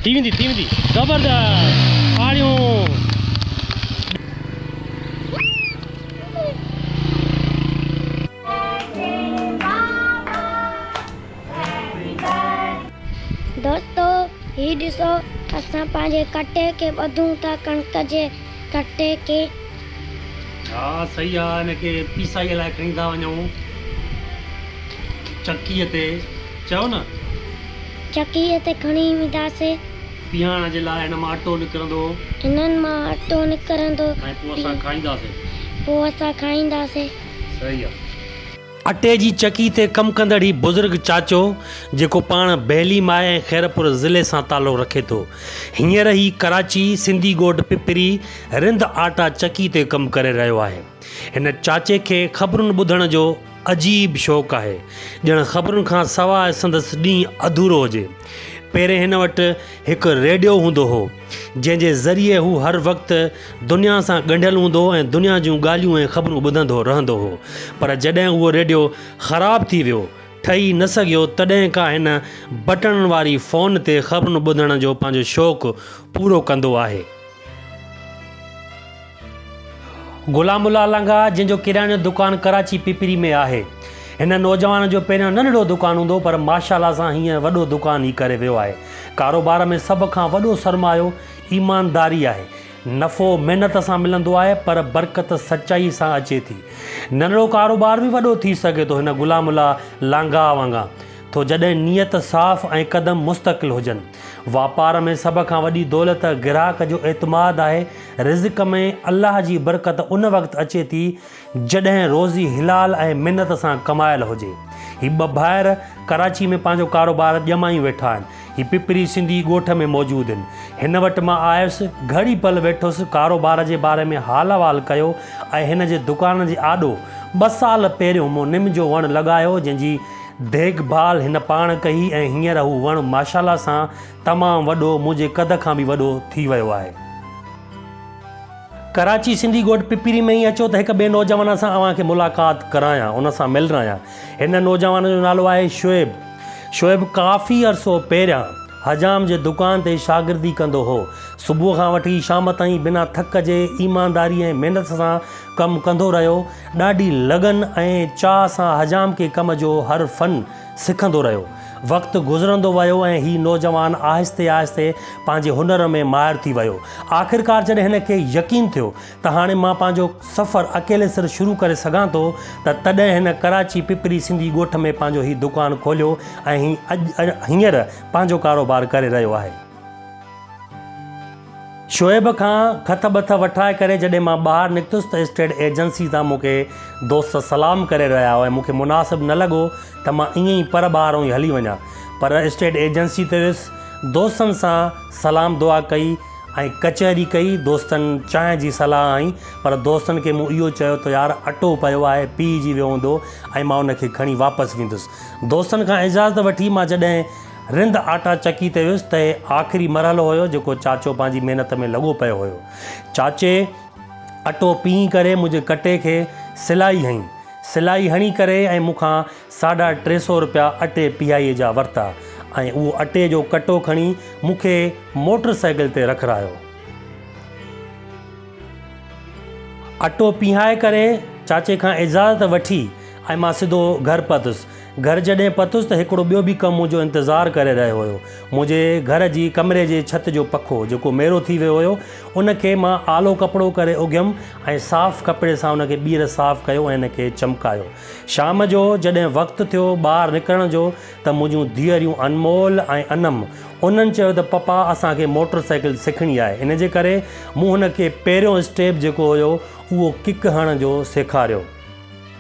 ٿي ويندي ٿي ويندي زبردست تاڙيون. دوستو هي ڏسو اسان پنهنجي ڪٽي کي ٻڌون ٿا ڪڻڪ جي ڪٽي کي. ها صحيح آ ان کي پيسائي لاء کڻي ٿا وڃون چڪيء تي چئو نه. چڪيء تي کڻي وينداسين. پيهائڻ جي لاء هن مان اٽو نڪرندو. هنن مان اٽو نڪرندو. ۽ پوء اسان کائينداسين. پوء اسان کائينداسين. صحيح آ. اٽي جي چڪي تي ڪم ڪندڙ هي بزرگ چاچو جيڪو پاڻ بهلي ماء ۽ خيرپور ضلعي سان تعلق رکي ٿو هينئر هي ڪراچي سنڌي ڳوٺ پپري رند آٽا چڪي تي ڪم ڪري رهيو آهي هن چاچي کي خبرن ٻڌڻ جو عجيب شوق آهي، ڄڻ خبرن کان سواء سندس ڏينهن اڌورو هجي. پهرين هن وٽ هڪ ريڊيو هوندو هو، جنهن جي ذريعي هو هر وقت دنيا سان ڳنڍيل هوندو هو ۽ دنيا جون ڳالهيون ۽ خبرون ٻڌندو رهندو هو. پر جڏهن اهو ريڊيو خراب ٿي ويو، ٺهي نه سگهيو، تڏهن کان هن بٽڻن واري فون تي خبرون ٻڌڻ جو پنهنجو شوق پورو ڪندو آهي. غلام الله لنگاهه جنهن جو ڪرياني جو دڪان ڪراچي پپري ۾ آهي هن نوجوان جو پهريان ننڍڙو دڪان هوندو پر ماشاالله سان هينئر وڏو دڪان ئي ڪري ويو آهي ڪاروبار ۾ سڀ کان وڏو سرمايو ايمانداري آهي نفعو محنت سان ملندو آهي پر برڪت سچائي سان اچي ٿي ننڍڙو ڪاروبار به وڏو ٿي سگهي ٿو هن غلام الله لانگاهه وانگان ٿو جڏهن نيت صاف ۽ قدم مستقل هجن واپار ۾ سڀ کان وڏي دولت گراهڪ جو اعتماد آهي. رزق ۾ الله جي برڪت ان وقت اچي ٿي جڏهن روزي حلال ۽ محنت سان ڪمايل هجي. هي ٻه ڀائر ڪراچي ۾ پنهنجو ڪاروبار ڄمائي ويٺا آهن. هي پپري سنڌي ڳوٺ ۾ موجود هن. هن وٽ مان آيس، گهڙي پل ويٺس، ڪاروبار جي باري ۾ حال احوال ڪيو ۽ هن جي دڪان جي آڏو ٻه سال پهريون مون نم جو وڻ لڳايو جنهن جي ديک ڀال هن پاڻ ڪئي ۽ هينئر هو وڻ ماشاالله سان تمام وڏو منهنجي قد کان به وڏو ٿي ويو آهي. ڪراچي سنڌي ڳوٺ پپيري ۾ ئي اچو ته هڪ ٻئي نوجوان سان اوهان کي ملاقات ڪرايان ان سان ملرايان. هن نوجوان جو نالو آهي شعيب. شعيب ڪافي عرصو پهريان حجام جي دڪان تي شاگردي ڪندو هو. صبح کان وٺي شام تائين بنا ٿڪ جي ايمانداري ۽ محنت سان ڪم ڪندو رهيو. ڏاڍي لگن ۽ چاهه سان حجام کي ڪم جو هر فن سکندو رهيو. وقت گذرندو ويو ۽ هي نوجوان آهستي آهستي پنهنجي هنر ۾ ماهر ٿي ويو. آخرڪار جڏهن هن کي يقين ٿيو ته هاڻي مان پنهنجو سفر اڪيلي سر شروع ڪري سگهان ٿو ته تڏهن هن ڪراچي پپري سنڌي ڳوٺ ۾ پنهنجو هي دڪان کوليو ۽ هي اڄ هينئر پنهنجو ڪاروبار ڪري رهيو آهي. شعيب کان کٿ ٻٿ وٺرائي ڪري جڏهن مان ٻاهر نڪتس ته اسٽيٽ ايجنسي تان مون کي دوست سلام ڪري رهيا هئا ۽ مون کي مناسب نه لڳو ته مان ائين ئي پر ٻاهرون ئي هلي وڃان پر اسٽيٽ ايجنسي تي ويس دوستن سان سلام دعا ڪئي ۽ ڪچهري ڪئي دوستن چانهه جي صلاح هنئي پر دوستن کي مون اهو چيو ته يار اٽو پيو آهي پيهجي ويو هوندو ۽ مان ان کي کڻي واپس ويندس دوستن کان اجازت وٺي مان جڏهن رند آٽا چڪي تي ويس ته هي آخري مرحلو هيو جيڪو چاچو پنهنجي محنت ۾ لڳو پيو هيو. چاچي اٽو پيهي ڪري منهنجي ڪٽي کي سلائي هنئي. سلائي هڻي ڪري ۽ مون کان ساڍا ٽي سئو رپيا اٽي پيهائي جا ورتا ۽ اهو اٽي جو ڪٽو کڻي مون کي موٽر سائيڪل تي رکرايو. اٽو پيهائي ڪري چاچي کان اجازت وٺي ۽ مان سڌو گهر پهتس. گهر جڏهن پهتس ته هڪڙو ٻيو به ڪم منهنجو انتظار ڪري رهيو هيو. منهنجي گهر جي ڪمري جي ڇت جو پکو، جيڪو ميرو ٿي ويو هيو، ان کي مان آلو ڪپڙو ڪري اگهيم ۽ صاف ڪپڙي سان ان کي ٻيهر صاف ڪيو ۽ ان کي چمڪايو. شام جو جڏهن وقت ٿيو ٻاهر نڪرڻ جو ته منهنجون ڌيئريون انمول ۽ انم انهن چيو ته پپا اسان کي موٽر سائيڪل سکڻي آهي ان جي ڪري مون هن کي پهريون اسٽيپ جيڪو هيو اهو ڪڪ هڻڻ جو سيکاريو.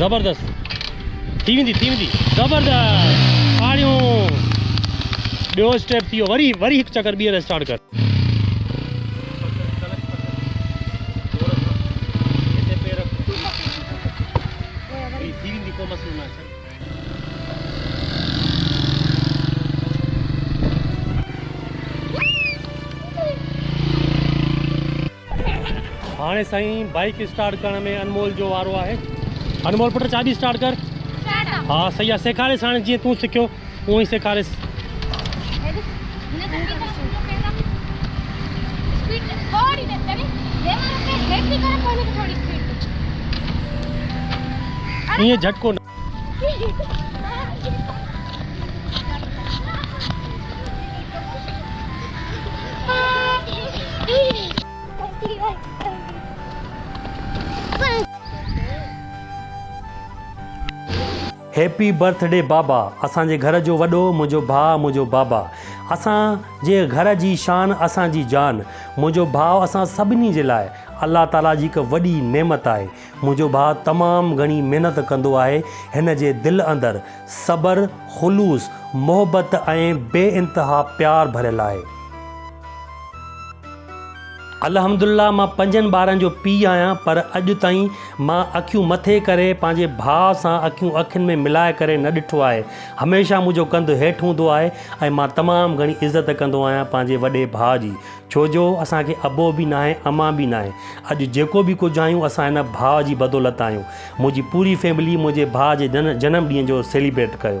زبردست ٿي ويندي ٿي ويندي زبردست آڻيو ٻيو اسٽيپ ٿي ويو وري وري هڪ چڪر ٻيهر اسٽارٽ ڪر هاڻي سائين بائيڪ اسٽارٽ ڪرڻ ۾ انمول جو وارو آهي انمول پٽ چاٻي اسٽارٽ ڪر ها سهي آهي سيکاريس هاڻي جيئن تون سکيو اون ئي سيکاريس ائين جھٽڪو هيپي برٿ ڊي بابا اسان جي گهر جو وڏو منهنجو ڀاء منهنجو بابا اسان جي گهر جي شان اسان جي جان منهنجو ڀاء اسان سڀني جي لاء الله تعالي جي هڪ وڏي نعمت آهي منهنجو ڀاء تمام گهڻي محنت ڪندو آهي، هن جي دل اندر صبر، خلوص، محبت ۽ بي انتها پيار ڀريل آهي. الحمد الله مان پنجن ٻارن جو پيء آهيان پر اڄ تائين مان اکيون مٿي ڪري پنهنجي ڀاء سان اکيون اکين ۾ ملائي ڪري نه ڏٺو آهي، هميشه منهنجو ڪنڌ هيٺ هوندو آهي ۽ مان تمام گهڻي عزت ڪندو آهيان پنهنجي وڏي ڀاء جي، ڇو جو اسان کي ابو به ناهي امان به ناهي اڄ جيڪو به ڪجهه آهيون اسان هن ڀاء جي بدولت آهيون منهنجي پوري فيملي منهنجي ڀاء جي جنم ڏينهن جو سيليبريٽ ڪيو.